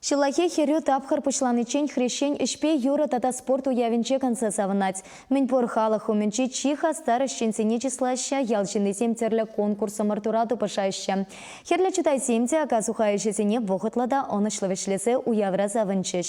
Ҫуллахи хӗрӳ тапхӑр пуҫланиччен хресчен ӗҫпе юрӑ тата спорт уявӗнче канса савӑнать. Мӗнпур халӑх умӗнчи чи хастар ӗҫченсене чыслаҫҫӗ, ял ҫыннисем тӗрлӗ конкурс ӑмӑртура тупӑшаҫҫӗ. Хӗрлӗ чутайсем те ака-суха ӗҫӗсене вӑхӑтлӑ та ӑнӑҫлӑ вӗҫлесе уявра савӑнчӗҫ.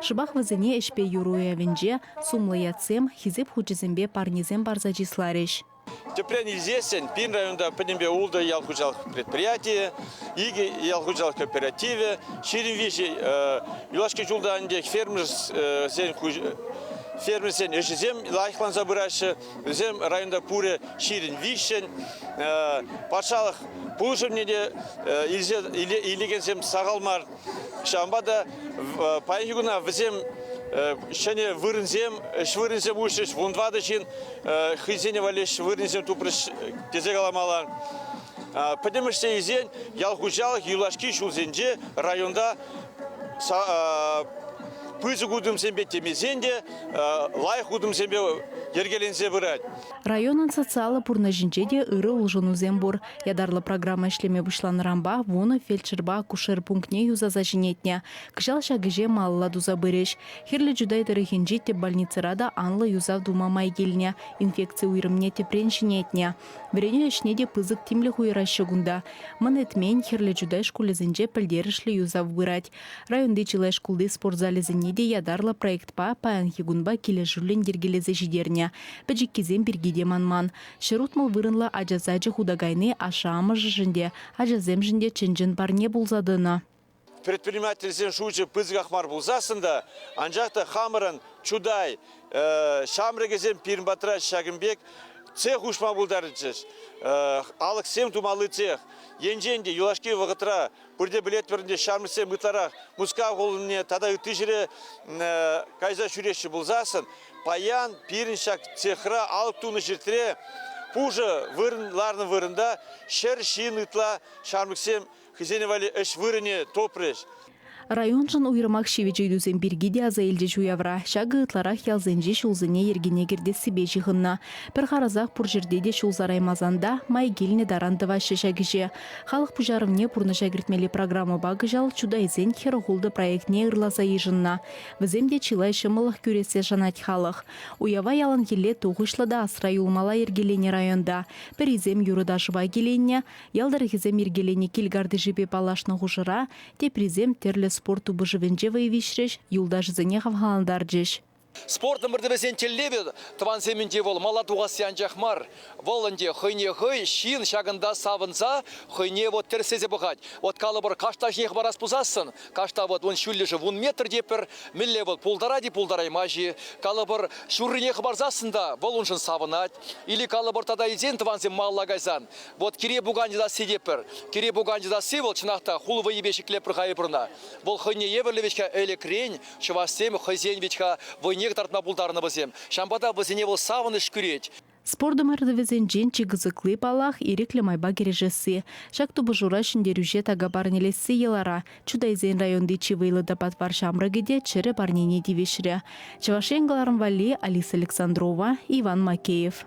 Шӑпах вӗсене ӗҫпе юр уявӗнче сумлӑ ятсем, Хисеп хучӗсемпе парнесем парса чысларӗҫ. Тӗпрен илсессӗн, пин районта пӗтӗмпе ултӑ ял хуҫалӑх предприятийӗ, икӗ ял хуҫалӑх кооперативӗ, ҫирӗм виҫӗ юлашки ҫулта ӗнтӗ фермерсен ӗҫӗсем лайӑхланса пыраҫҫӗ. Вӗсем районта пурӗ ҫирӗн виҫҫӗн. Патшалӑх пулӑшӑвне те илекенсем сахал мар. Ҫавӑнпа та паянхи куна вӗсем ҫӗнӗ вырӑнсем, ӗҫ вырӑнсем уҫрӗҫ. Вун тӑватӑ ҫын хӑйсене валли ӗҫ вырӑнсем тупрӗҫ тесе каламалла. Пӗтӗмӗшле илсен ял хуҫалӑх юлашки ҫулсенче районта пысӑк утӑмсемпе темесен те лайӑх утӑмсемпе йӗркеленсе пырать. Районӑн социаллӑ пурнӑҫӗнче те ырӑ улшӑнусем пур. Ятарлӑ программа ӗҫлеме пуҫланӑранпа вунӑ фельдшерпа акушер пунктне юсаса ҫӗнетнӗ. Кӑҫал ҫак ӗҫе малалла туса пырӗҫ. Хирлӗ Чутай тӑрӑхӗнчи тӗп больницӑра та анлӑ юсав тума май килнӗ, инфекци уйрӑмне тӗпрен ҫӗнетнӗ. Вӗренӳ ӗҫне те пысӑк тимлӗх уйӑраҫҫӗ кунта. Мӑн Этмен, Хирлӗ Чутай шкулӗсенче пӗлтерӗшлӗ юсав пырать. Районти чылай шкулти спорт залӗсене те ятарлӑ проектпа паянхи кунпа килӗшӳллӗн йӗркелесе ҫитернӗ. Пӗчӗккисем пирки те манман. Ҫӗр утмӑл вырӑнлӑ ача сачӗ хута кайни ашшӗ-амӑшӗшӗн те, ачасемшӗн те чӑн-чӑн парне пулса тӑнӑ. Предпринимательсен шучӗ пысӑках мар пулсассӑн та, анчах та хамӑрӑн Чутай ҫамрӑкӗсем пирӗн патра ҫакӑн пек цех уҫма пултарчӗҫ. Алӑксем тумалли цех енчен те юлашки вӑхӑтра Пурте пӗлетпӗр ӗнтӗ, ҫармӑссем ытларах Мускав хулине тата ытти ҫӗре кайса ҫӳреҫҫӗ пулсассӑн, паян пирӗн ҫак цехра алӑк тунӑ ҫуртре пушӑ вырӑн ларнӑ вырӑнта ҫӗр ҫын ытла ҫамрӑксем хӑйсен валли ӗҫ вырӑнӗ тупрӗҫ. Районшӑн уйрӑмах ҫивӗч ыйтусем пирки те аса илчӗҫ уявра. Ҫакӑ ытларах ялсенчи ҫулсене йӗркене кӗртессипе ҫыхӑннӑ. Пӗр харӑсах пур ҫӗрте те ҫул сараймасан та май килнӗ таран тӑваҫҫӗ ҫак ӗҫе. Халӑх пуҫарӑвне пурнӑҫа кӗртмелли программӑпа кӑҫал Чутайсен хӗр-хултӑ проектне ырласа йышӑннӑ. Вӗсем те чылай ҫӑмӑллӑх кӳрессе шанать халӑх. Уява яланхилле тухӑҫлӑ та асра юлмалла йӗркеленӗ районта. Пӗрисем юрӑ-ташӑпа киленнӗ, ял тӑрӑхӗсем йӗркеленӗ кил картишӗпе паллашнӑ хушӑра, теприсем тӗрлӗ спорт тупӑшӑвӗнче вӑй виҫрӗҫ, юлташӗсене хавхалантарчӗҫ. Спорт ӑмӑртӑвӗсен тӗллевӗ тӑвансемӗнче вӑл мала тухасси анчах мар, вӑл ӗнтӗ хӑйне хӑй, ҫын ҫакӑнта савӑнса хӑйне вӑт тӗрӗслесе пӑхать. Вӑт калӑпӑр, каштаххиех парас пулсассӑн, кашта вӑт ун ҫӳллӗшӗ вун метр те пӗр, мӗнле вӑл пултарать-и, пултараймасть-и, калӑпӑр, ҫуррине хӑпарсассӑн та вӑл уншӑн савӑнать. Или калӑпӑр тата илсен тӑвансем малалла кайсан, вӑт кире пукан йӑтасси те пӗр. Кире пукан йӑтасси вӑл чӑнах та хул вӑйӗпе ҫӗклеп пӗр хайӑпӑрна. Вӑл хӑйне евӗрлӗ-ҫке ӗлӗкрен, Чӑвашсем хӑйсен вӗт-ха вӑйнех тартма пултарнӑ вӗсем. Ҫавӑнпа та вӗсене вӑл савӑнӑҫ кӳрет. Спорт ӑмӑртӑвӗсенчен чи кӑсӑкли, паллах, ирӗклӗ майпа кӗрешесси. Ҫак тупӑшура ҫӗнтерӳҫе така парнелесси йӑлара. Чутайсен районти чи вӑйлӑ та патвар ҫамрӑкӗ те чӗрӗ парнене тивӗҫрӗ. Чӑваш Ен кӑларӑм валли, Алиса Александрова, Иван Макеев.